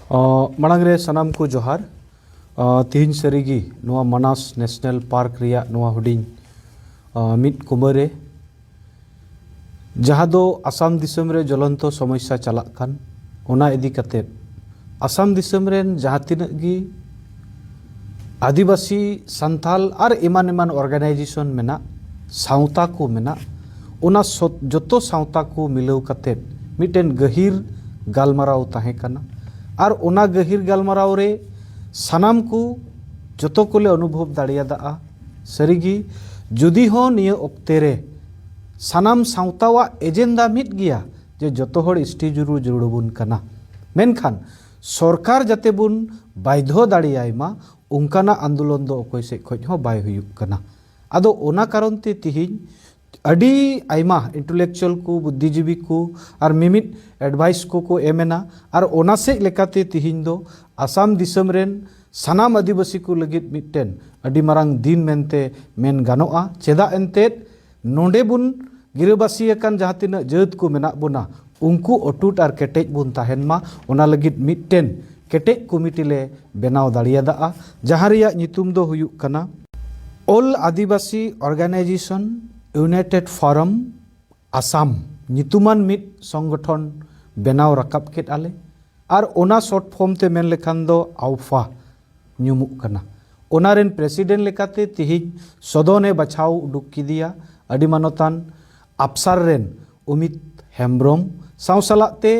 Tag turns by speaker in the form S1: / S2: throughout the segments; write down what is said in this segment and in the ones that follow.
S1: ᱢᱟᱲᱟᱝ ᱨᱮ ᱥᱟᱱᱟᱢ ᱠᱚ ᱡᱚᱦᱟᱨ ᱛᱮᱦᱮᱧ ᱥᱟᱹᱨᱤᱜᱮ ᱱᱚᱣᱟ ᱢᱟᱱᱟᱥ ᱱᱮᱥᱱᱮᱞ ᱯᱟᱨᱠ ᱨᱮᱭᱟᱜ ᱱᱚᱣᱟ ᱦᱩᱰᱤᱧ ᱢᱤᱫ ᱠᱩᱢᱟᱹᱨᱮ ᱡᱟᱦᱟᱸ ᱫᱚ ᱟᱥᱟᱢ ᱫᱤᱥᱚᱢ ᱨᱮ ᱡᱚᱞᱚᱱᱛᱚ ᱥᱚᱢᱚᱥᱥᱟ ᱪᱟᱞᱟᱜ ᱠᱟᱱ ᱚᱱᱟ ᱤᱫᱤ ᱠᱟᱛᱮ ᱟᱥᱟᱢ ᱫᱤᱥᱚᱢ ᱨᱮᱱ ᱡᱟᱦᱟᱸ ᱛᱤᱱᱟᱹᱜ ᱜᱮ ᱟᱹᱫᱤᱵᱟᱹᱥᱤ ᱥᱟᱱᱛᱟᱞ ᱟᱨ ᱮᱢᱟᱱ ᱮᱢᱟᱱ ᱚᱨᱜᱟᱱᱟᱭᱡᱮᱥᱚᱱ ᱢᱮᱱᱟᱜ ᱥᱟᱶᱛᱟ ᱠᱚ ᱢᱮᱱᱟᱜ ᱚᱱᱟ ᱡᱚᱛᱚ ᱥᱟᱶᱛᱟ ᱠᱚ ᱢᱤᱞᱟᱹᱣ ᱠᱟᱛᱮ ᱢᱤᱫᱴᱮᱱ ᱜᱟᱹᱦᱤᱨ ᱜᱟᱞᱢᱟᱨᱟᱣ ᱛᱟᱦᱮᱸ ᱠᱟᱱᱟ ᱟᱨ ᱚᱱᱟ ᱜᱟᱹᱦᱤᱨ ᱜᱟᱞᱢᱟᱨᱟᱣ ᱨᱮ ᱥᱟᱱᱟᱢ ᱠᱚ ᱡᱚᱛᱚ ᱠᱚᱞᱮ ᱚᱱᱩᱵᱷᱚᱵ ᱫᱟᱲᱮᱭᱟᱫᱟ ᱥᱟᱹᱨᱤᱜᱮ ᱡᱩᱫᱤ ᱦᱚᱸ ᱱᱤᱭᱟᱹ ᱚᱠᱛᱮ ᱨᱮ ᱥᱟᱱᱟᱢ ᱥᱟᱶᱛᱟᱣᱟᱜ ᱮᱡᱮᱱᱰᱟ ᱢᱤᱫ ᱜᱮᱭᱟ ᱡᱮ ᱡᱚᱛᱚ ᱦᱚᱲ ᱮᱥᱴᱤ ᱡᱩᱲᱩ ᱡᱩᱲᱩ ᱵᱚᱱ ᱠᱟᱱᱟ ᱢᱮᱱᱠᱷᱟᱱ ᱥᱚᱨᱠᱟᱨ ᱡᱟᱛᱮ ᱵᱚᱱ ᱵᱟᱭᱫᱷᱚ ᱫᱟᱲᱮᱭᱟᱭ ᱢᱟ ᱚᱱᱠᱟᱱᱟᱜ ᱟᱱᱫᱳᱞᱚᱱ ᱫᱚ ᱚᱠᱚᱭ ᱥᱮᱫ ᱠᱷᱚᱱ ᱦᱚᱸ ᱵᱟᱭ ᱦᱩᱭᱩᱜ ᱠᱟᱱᱟ ᱟᱫᱚ ᱚᱱᱟ ᱠᱟᱨᱚᱱ ᱛᱮ ᱛᱤᱦᱤᱧ ᱟᱹᱰᱤ ᱟᱭᱢᱟ ᱤᱱᱴᱩᱞᱮᱠᱪᱩᱭᱟᱞ ᱠᱚ ᱵᱩᱫᱽᱫᱷᱤ ᱡᱤᱵᱤ ᱠᱚ ᱟᱨ ᱢᱤᱢᱤᱫ ᱮᱰᱵᱷᱟᱭᱤᱥ ᱠᱚᱠᱚ ᱮᱢ ᱮᱱᱟ ᱟᱨ ᱚᱱᱟ ᱥᱮᱫ ᱞᱮᱠᱟᱛᱮ ᱛᱤᱦᱤᱧ ᱫᱚ ᱟᱥᱟᱢ ᱫᱤᱥᱚᱢ ᱨᱮᱱ ᱥᱟᱱᱟᱢ ᱟᱹᱫᱤᱵᱟᱹᱥᱤ ᱠᱚ ᱞᱟᱹᱜᱤᱫ ᱢᱤᱫᱴᱮᱱ ᱟᱹᱰᱤ ᱢᱟᱨᱟᱝ ᱫᱤᱱ ᱢᱮᱱᱛᱮ ᱢᱮᱱ ᱜᱟᱱᱚᱜᱼᱟ ᱪᱮᱫᱟᱜ ᱮᱱᱛᱮᱫ ᱱᱚᱸᱰᱮ ᱵᱚᱱ ᱜᱤᱨᱟᱹᱵᱟᱹᱥᱤ ᱟᱠᱟᱱ ᱡᱟᱦᱟᱸ ᱛᱤᱱᱟᱹᱜ ᱡᱟᱹᱛ ᱠᱚ ᱢᱮᱱᱟᱜ ᱵᱚᱱᱟ ᱩᱱᱠᱩ ᱚᱴᱩᱴ ᱟᱨ ᱠᱮᱴᱮᱡ ᱵᱚᱱ ᱛᱟᱦᱮᱱ ᱢᱟ ᱚᱱᱟ ᱞᱟᱹᱜᱤᱫ ᱢᱤᱫᱴᱮᱱ ᱠᱮᱴᱮᱡ ᱠᱚᱢᱤᱴᱤ ᱞᱮ ᱵᱮᱱᱟᱣ ᱫᱟᱲᱮᱭᱟᱫᱟᱜᱼᱟ ᱡᱟᱦᱟᱸ ᱨᱮᱭᱟᱜ ᱧᱩᱛᱩᱢ ᱫᱚ ᱦᱩᱭᱩᱜ ᱠᱟᱱᱟ all Adivasi organisation united forum Assam ᱧᱩᱛᱩᱢᱟᱱ ᱢᱤᱫ ᱥᱚᱝᱜᱚᱴᱷᱚᱱ ᱵᱮᱱᱟᱣ ᱨᱟᱠᱟᱵ ᱠᱮᱫᱼᱟ ᱞᱮ ᱟᱨ ᱚᱱᱟ ᱥᱚᱨᱴ ᱯᱷᱚᱨᱢ ᱛᱮ ᱢᱮᱱ ᱞᱮᱠᱷᱟᱱ ᱫᱚ ᱟᱣᱯᱷᱟ ᱧᱩᱢᱩᱜ ᱠᱟᱱᱟ᱾ ᱚᱱᱟ ᱨᱮᱱ ᱯᱨᱮᱥᱤᱰᱮᱱᱴ ᱞᱮᱠᱟᱛᱮ ᱛᱤᱦᱤᱧ ᱥᱚᱫᱚᱱ ᱮ ᱵᱟᱪᱷᱟᱣ ᱩᱰᱩᱠ ᱠᱮᱫᱮᱭᱟ ᱟᱹᱰᱤ ᱢᱟᱱᱚᱛᱟᱱ ᱟᱯᱥᱟᱨ ᱨᱮᱱ ᱚᱢᱤᱛ ᱦᱮᱢᱵᱽᱨᱚᱢ ᱥᱟᱶ ᱥᱟᱞᱟᱜ ᱛᱮ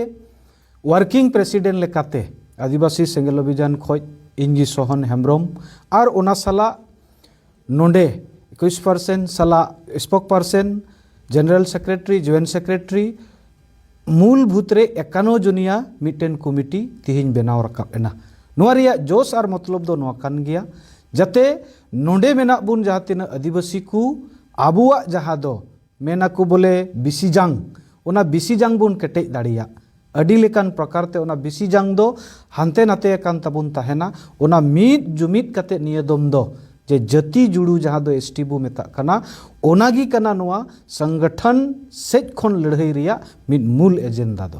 S1: ᱣᱟᱨᱠᱤᱝ ᱯᱨᱮᱥᱤᱰᱮᱱᱴ ᱞᱮᱠᱟᱛᱮ ᱟᱹᱫᱤᱵᱟᱹᱥᱤ ᱥᱮᱸᱜᱮᱞ ᱚᱵᱷᱤᱡᱟᱱ ᱠᱷᱚᱡ ᱤᱧᱜᱤ ᱥᱚᱦᱚᱱ ᱦᱮᱢᱵᱽᱨᱚᱢ ᱟᱨ ᱚᱱᱟ ᱥᱟᱞᱟᱜ ᱱᱚᱸᱰᱮ ᱮᱠᱩᱥ ᱯᱟᱨᱥᱮᱱ ᱥᱟᱞᱟᱜ spokesperson general secretary joint secretary ᱢᱩᱞ ᱵᱷᱩᱛ ᱨᱮ ᱮᱠᱟᱱᱚ ᱡᱚᱱᱤᱭᱟ ᱢᱤᱫᱴᱮᱱ ᱠᱚᱢᱤᱴᱤ ᱛᱮᱦᱮᱧ ᱵᱮᱱᱟᱣ ᱨᱟᱠᱟᱵ ᱮᱱᱟ ᱱᱚᱣᱟ ᱨᱮᱭᱟᱜ ᱡᱚᱥ ᱟᱨ ᱢᱚᱛᱞᱚᱵ ᱫᱚ ᱱᱚᱣᱟ ᱠᱟᱱ ᱜᱮᱭᱟ ᱡᱟᱛᱮ ᱱᱚᱸᱰᱮ ᱢᱮᱱᱟᱜ ᱵᱚᱱ ᱡᱟᱦᱟᱸ ᱛᱤᱱᱟᱹᱜ ᱟᱹᱫᱤᱵᱟᱹᱥᱤ ᱠᱚ ᱟᱵᱚᱣᱟᱜ ᱡᱟᱦᱟᱸ ᱫᱚ ᱢᱮᱱ ᱟᱠᱚ ᱵᱚᱞᱮ ᱵᱤᱥᱤ ᱡᱟᱝ ᱚᱱᱟ ᱵᱤᱥᱤ ᱡᱟᱝ ᱵᱚᱱ ᱠᱮᱴᱮᱡ ᱫᱟᱲᱮᱭᱟᱜ ᱟᱹᱰᱤ ᱞᱮᱠᱟᱱ ᱯᱨᱚᱠᱟᱨ ᱛᱮ ᱚᱱᱟ ᱵᱤᱥᱤ ᱡᱟᱝ ᱫᱚ ᱦᱟᱱᱛᱮ ᱱᱟᱛᱮ ᱟᱠᱟᱱ ᱛᱟᱵᱚᱱ ᱛᱟᱦᱮᱱᱟ ᱚᱱᱟ ᱢᱤᱫ ᱡᱩᱢᱤᱫ ᱠᱟᱛᱮ ᱱᱤᱭᱟᱹ ᱫᱚᱢ ᱫᱚ ᱡᱮ ᱡᱟᱹᱛᱤ ᱡᱩᱲᱩ ᱡᱟᱦᱟᱸ ᱫᱚ ᱮᱥᱴᱤ ᱵᱚ ᱢᱮᱛᱟᱜ ᱠᱟᱱᱟ ᱚᱱᱟ ᱜᱮ ᱠᱟᱱᱟ ᱱᱚᱣᱟ ᱥᱚᱝᱜᱚᱴᱷᱚᱱ ᱥᱮᱡ ᱠᱷᱚᱱ ᱞᱟᱹᱲᱦᱟᱹᱭ ᱨᱮᱭᱟᱜ ᱢᱤᱫ ᱢᱩᱞ ᱮᱡᱮᱱᱰᱟ ᱫᱚ